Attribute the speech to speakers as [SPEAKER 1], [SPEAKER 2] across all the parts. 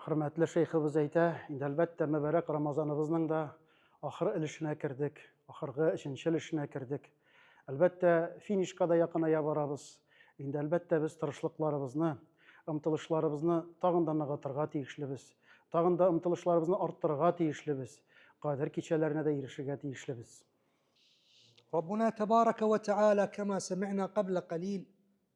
[SPEAKER 1] Хөрмәтле шейхыбыз әйтә, инде әлбәттә мөбарәк Рамазаныбызның да ахыр өлешенә кердек, ахыргы өченче өлешенә кердек. Әлбәттә, финишка да якыная барабыз. Инде әлбәттә без тырышлыкларыбызны, омтылышларыбызны тагын да ныгытырга тиешлебез. Тагын да омтылышларыбызны арттырырга тиешлебез. Кадер кичәләренә дә ирешергә тиешлебез.
[SPEAKER 2] Раббуна тәбарәкә вә тәгалә кама сәмигъна кабла калил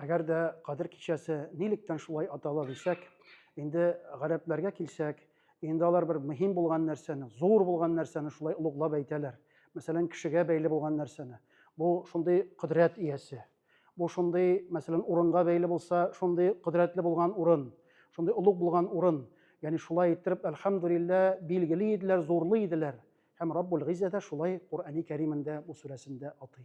[SPEAKER 1] Әгәр дә Кадер кичәсе нилектән шулай атала дисәк, инде гарәпләргә килсәк, инде алар бер мөһим булган нәрсәне, зур булган нәрсәне шулай олуглап әйтәләр. Мәсәлән, кешегә бәйле булган нәрсәне. Бу шундый кодрәт иясе. Бу шундый, мәсәлән, урынга бәйле булса, шундый кодрәтле булган урын, шундый олуг булган урын. Ягъни шулай иттереп, әлхәмдулилла, билгели иделәр, зурлый иделәр. Һәм Раббул Гиззә дә шулай Коръәни Кәримендә бу сүрәсендә атый.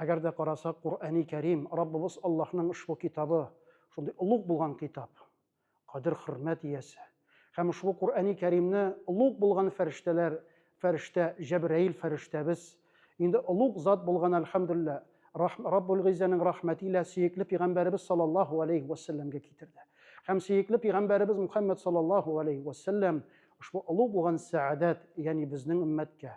[SPEAKER 1] Әгәр дә карасак, Коръәни Кәрим, Раббыбыз Аллаһның ошбу китабы, шундый олуг булган китап, кадер-хөрмәт иясе. Һәм ошбу Коръәни Кәримне олуг булган фәрештәләр, фәрештә Җәбраил фәрештәбез, инде олуг зат булган, әлхәмдүлиллә, Раббул Гыйззәнең рәхмәте илә сөекле пигамбәребез саллаллаһу галәйһи вә сәлләмгә китерде. Һәм сөекле пигамбәребез Мухәммәд саллаллаһу галәйһи вә сәлләм ошбу олуг булган сәадәт, ягъни безнең өммәткә,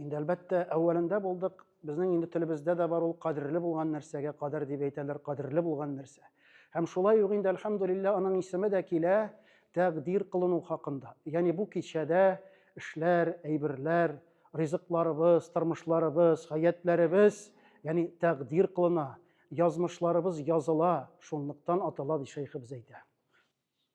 [SPEAKER 1] Инде әлбәттә, әүвәлендә булдык. Безнең инде телебездә дә бар ул кадерле булган нәрсәгә кадер дип әйтәләр, кадерле булган нәрсә. Һәм шулай ук инде әлхәмдулилла аның исеме дә килә тәкъдир кылыну хакында. Ягъни бу кичәдә эшләр, әйберләр, ризыкларыбыз, тормышларыбыз, хәятләребез, ягъни тәкъдир кылына, язмышларыбыз языла, шунлыктан атала ди шәйхебез әйтә.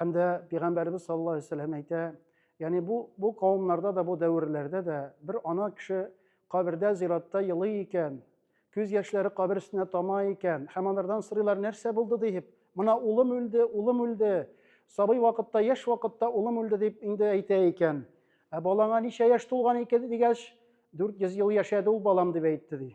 [SPEAKER 1] Һәм дә пәйгамбәрбез саллаллаһу алейһи вәсәлләм әйтә, ягъни бу бу кавымнарда да, бу дәверләрдә дә бер ана кеше кабердә, зиратта елый икән, күз яшьләре кабер өстенә тама икән, һәм алардан сорыйлар, нәрсә булды дип, мына улым үлде, улым үлде, сабый вакытта, яшь вакытта улым үлде дип инде әйтә икән. Ә балаңа ничә яшь тулган икән дигәч, 400 ел яшәде ул балам дип әйтте ди.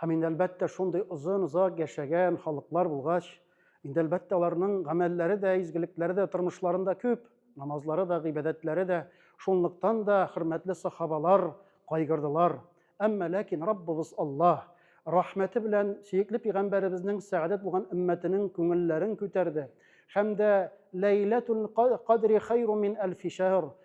[SPEAKER 2] Һәм
[SPEAKER 1] инде әлбәттә шундый озын-озак яшәгән халыклар булгач, инде әлбәттә аларның гамәлләре дә, изгелекләре дә тормышларында күп, намазлары да, гыйбадәтләре дә. Шунлыктан да хөрмәтле сахабалар кайгырдылар. Әмма ләкин Раббыбыз Аллаһ рәхмәте белән сөекле пигамбәребезнең сәгадәт булган өммәтенең күңелләрен күтәрде һәм дә Ләйләтул кадри хәйру мин әлфи шәһр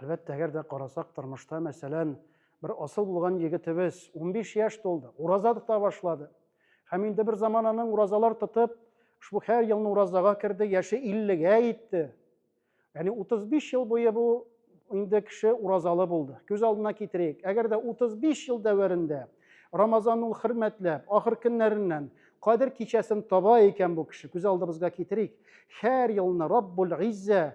[SPEAKER 1] Әлбәттә, әгәр дә карасак, тормышта, мәсәлән, бер асыл булган егетебез 15 яшь тулды, ураза тота башлады. Һәм инде бер заман аның уразалар тотып, ошбу һәр елны уразага керде, яше 50-гә итте. Яни 35 ел буе бу инде кеше уразалы булды. Күз алдына китерик. Әгәр дә 35 ел дәверендә Рамазан ул хөрмәтләп, ахыр көннәреннән кадер кичәсен таба икән бу кеше. Күз алдыбызга китерик. Һәр елны Раббул Гиззә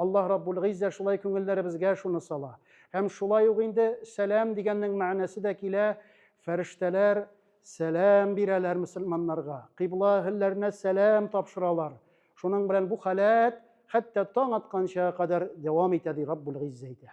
[SPEAKER 1] Аллаһ Раббул Гыйззә шулай күңелләребезгә шуны сала. Һәм шулай ук инде сәлам дигәннең мәгънәсе дә килә, фәрештәләр сәлам бирәләр мөселманнарга, кыйбла әһелләренә сәлам тапшыралар. Шуның белән бу халәт хәтта таң атканча кадәр дәвам итә, ди Раббул Гыйззә әйтә.